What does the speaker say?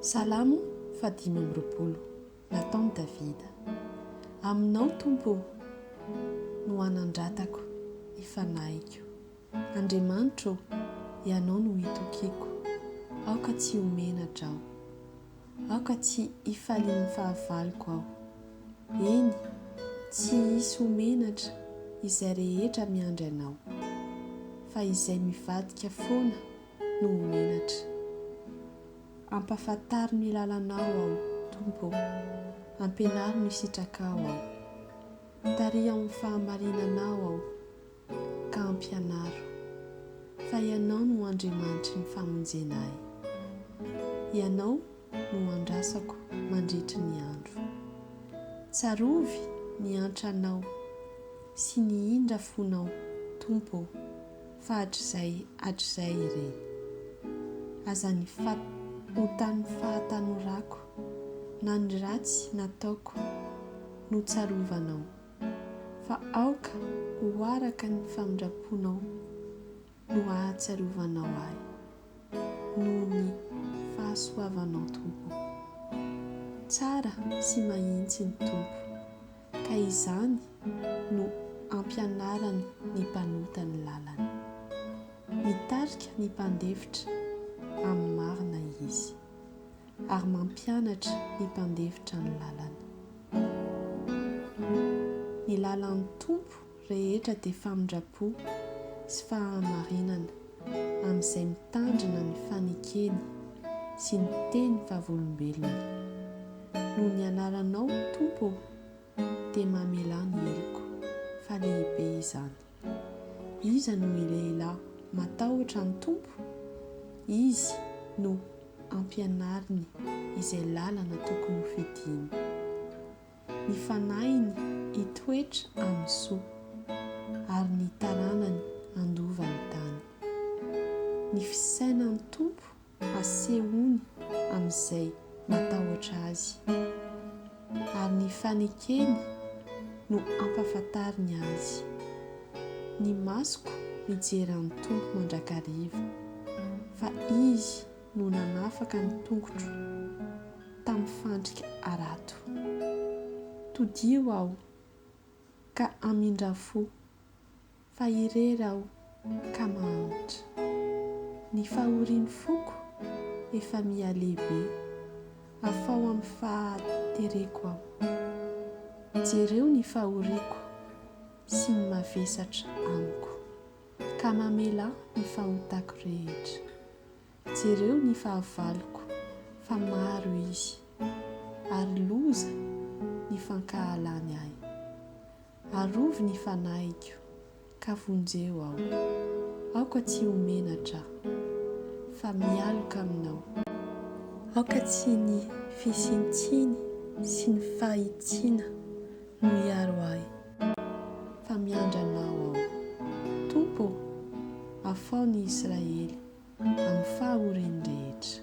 Salamo fahadimy amby roapolo. Nataon'i Davida. Aminao, Tompo ô, no hanandratako ny fanahiko. Andriamanitra ô, Ianao no itokiako, aoka tsy ho menatra aho. Aoka tsy hifalian'ny fahavaloko aho. Eny, tsy hisy ho menatra izay rehetra miandry Anao, fa izay mivadika foana no ho menatra. Ampafantaro ny lalanao aho, Tompo ô, ampianaro ny sitrakao aho. Tariho amin'ny fahamarinanao aho, ka ampianaro fa Ianao no Andriamanitry ny famonjena ahy. Ianao no andrasako mandritry ny andro. Tsarovy ny antranao sy ny indra fonao, Tompo ô. fa hatrizay hatrizay ireny. Aza ny fat ontan'ny fahatanorako na ny ratsy nataoko no tsarovanao, fa aoka ho araka ny famindraponao no hahatsiarovanao ahy, noho ny fahasoavanao Tompo o. Tsara sy mahintsy ny Tompo. ka izany no ampianarany ny mpanota ny lalany. Mitarika ny mpandefitra amin'ny marina Izy, ary mampianatra ny mpandefitra ny lalany. Ny lalan'ny Tompo rehetra dia famindram-po sy fahamarinana amin'izay mitandrina ny fanekeny sy ny teny vavolombelony. Noho ny anaranao Tompo ô, dia mamelà ny heloko, fa lehibe izany. Iza no i lehilahy matahotra ny Tompo? Izy no ampianariny izay lalana tokony ho fidiany. ny fanahiny hitoetra amin'ny soa, ary ny taranany handova ny tany. Ny fisainan'ny Tompo asehony amin'izay matahotra Azy, ary ny fanekeny no ampahafantariny Azy. Ny masoko mijery an'ny Tompo mandrakariva, fa Izy no nanafaka ny tongotro tamin'ny fandrika harato. Todiho aho ka hamindra fo, fa irery aho ka mahantra. Ny fahorian'ny foko efa miha lehibe, afao amin'ny fahatereko aho. Jereo ny fahoriako sy ny mavesatra amiko. Ka mamela ny fahotako rehetra. Jereo ny fahavaloko fa maro izy, ary loza ny fankahalany ahy. Arovy ny fanahiko, ka vonjeo aho. Aoka tsy ho menatra aho, fa mialoka aminao. Aoka tsy ny fisiantsiny sy ny fahitsiana no hiaro ahy. fa miandry Anao aho. Tompo ô, afaho ny Israely amin'ny fahoriany rehetra.